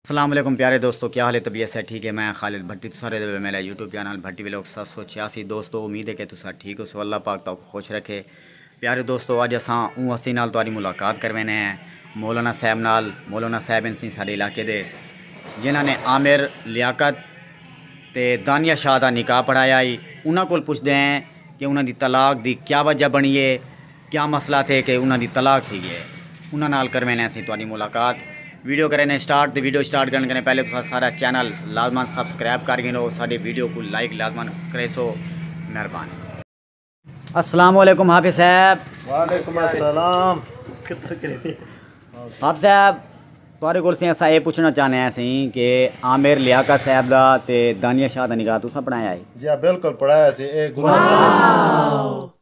اسلام علیکم پیارے دوستو کیا حال ہے طبیعت سے ٹھیک ہے میں خالد بھٹی تساں رہے ہوئے میرا یوٹیوب چینل بھٹی وی لوگ سات سو چھیاسی دوستو امید ہے کہ تساں ٹھیک ہو سو اللہ پاک تو خوش رکھے پیارے دوستو اج اساں اون ہستی نال تاری ملاقات کروینے ہیں مولانا صاحب نال مولانا صاحب انسی سارے علاقے دے جنہاں نے عامر لیاقت تے دانیہ شاہ دا نکاح پڑھایا ہی انہاں کول پوچھتے ہیں کہ انہاں دی طلاق دی کیا وجہ بنی ہے کیا مسئلہ تھے کہ انہاں دی طلاق تھی گئے انہاں نال کروینے اسیں تہاڈی ملاقات ویڈیو کرینے سٹارٹ تے ویڈیو سٹارٹ کرن کنے پہلے تساں سارا چینل لازمن سبسکرائب کر گھنو ساڈی ویڈیو کوں لائک لازمن کریسو مہربانی۔ السلام علیکم حافظ صاحب۔ وعلیکم السلام۔ حافظ صاحب تہاڈے کول سیں اساں اے پچھنا چاہنے آں سیں کہ عامر لیاقت صاحب دا تے دانیہ شاہ دا نکاح تساں پڑھایا ہئی؟ جی ہاں بالکل پڑھایا سی اے گناہ واہ۔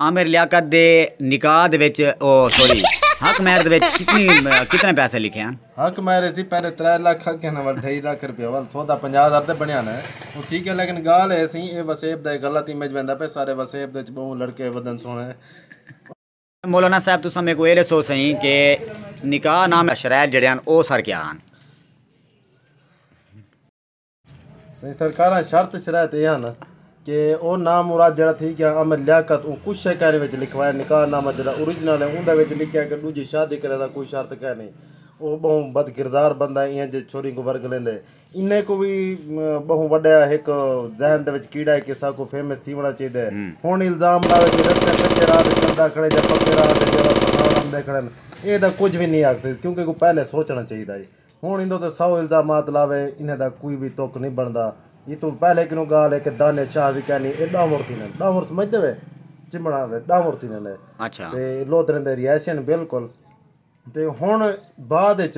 عامر لیاقت دے نکاح دے وچ او سوری حق مہر دے وچ کتنی کتنے پیسے لکھے ہن؟ حق مہر اسی پہلے ترے لکھ اگے نہ ول ڈھائی لکھ روپیہ ول سودا پنجاہ ہزار تے بنیا نہ او ٹھیک ہے لیکن گال اے سی اے وسیب دا اے غلط امیج ویندا پے سارے وسیب دے وچ بہوں لڑکے ودن سونے مولانا صاحب تساں میکوں اے ڈسو سئیں کہ نکاح نامے شرائط جیڑھے ہن او سر کیا ہن؟ سائیں سرکاراں شرط شرائط اے ہن کہ او نام مراد جیڑا تھی گیا امر لیاقت او کچھ شے کہنے وچ لکھوائے نکاح نامہ جیڑا اوریجنل ہے اوندا وچ لکھیا کہ ڈوجھی شادی کرے دا کوئی شرط کہہ نی او بہوں بد کردار بندہ ہے اینہہ جے چھوری کوں ورگ لیندے انہہ کو وی بہوں وڈا ہک ذہن دے وچ کیڑا ہے کہ سا کو فیمس تھی ونا چاہیدا ہے ہن الزام لاوے کہ رستے کچے راہ تے چلدا کھڑے جا پکے راہ تے جیڑا پہاڑ آندے کھڑن اینہہ دا کچھ وی نی آکھ سکدے کیونکہ کو پہلے سوچنا چاہیدا ہے ہݨ ایندوں تے سو الزامات لاوے انھیں دا کوئی وی تک نی بݨدا ایتوں پہلے کنوں ڳالھ اے کہ دانش شاہ وی کینی اے ݙانوݨ تھیندن ݙانوݨ سمجھدے وے چمݨاݨ دے ݙانوݨ تھیندن اے تے لودھریں دے رہائشی ہن بالکل تے ہݨ بعد اچ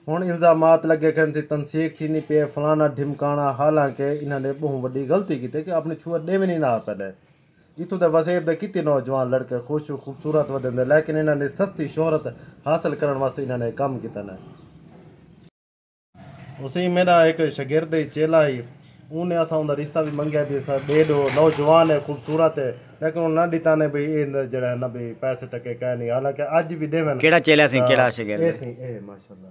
ہݨ الزامات لڳے کھن سی تنسیق تھیندی پی اے فلاݨا ڈھمکاݨا حالانکہ انھاں نے ٻہوں وݙی غلطی کیتے کہ آپݨی چھوہر ݙیوݨی نہ ہا پئے ݙے اتھوں دے وسیب دے کتی نوجوان لڑکے خوش و خوبصورت ودیندے لیکن انہاں دی سستی شہرت حاصل کرݨ واسطے انہاں نے اے کم کیتانے۔ حسین میݙا ہک شاگرد ہئی، چیلا ہئی۔ اوں نے اساں اوندا رشتہ وی منگیا بی اساں ݙے ݙو، نوجوان ہے، خوبصورت ہے لیکن اوں نہ ݙتانے بی ایندا جیڑھا ہے نہ بی پیسے ٹکے کائنی حالانکہ اڄ وی ݙیون تاں اے سئیں اے ماشاءاللہ۔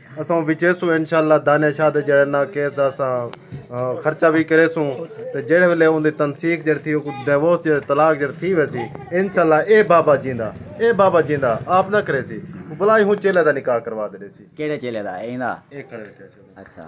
اساں وچیسوں انشاءاللہ دانیہ شاہ دے جیڑھے نا کیس دا اساں خرچہ وی کریسوں تے جیڑھے ویلے اوندی تنسیخ جیڑھی تھی اوکوں ڈیوورس جیڑھے طلاق جیڑھے تھی ویسی انشاءاللہ اے بابا جیندا اے بابا جیندا آپ نہ کریسی ولائی ہوں چیلے دا نکاح کروا دے ڈیسی۔ کیڑے چیلے دا ایندا؟ اے کھڑے اتھے اچھا۔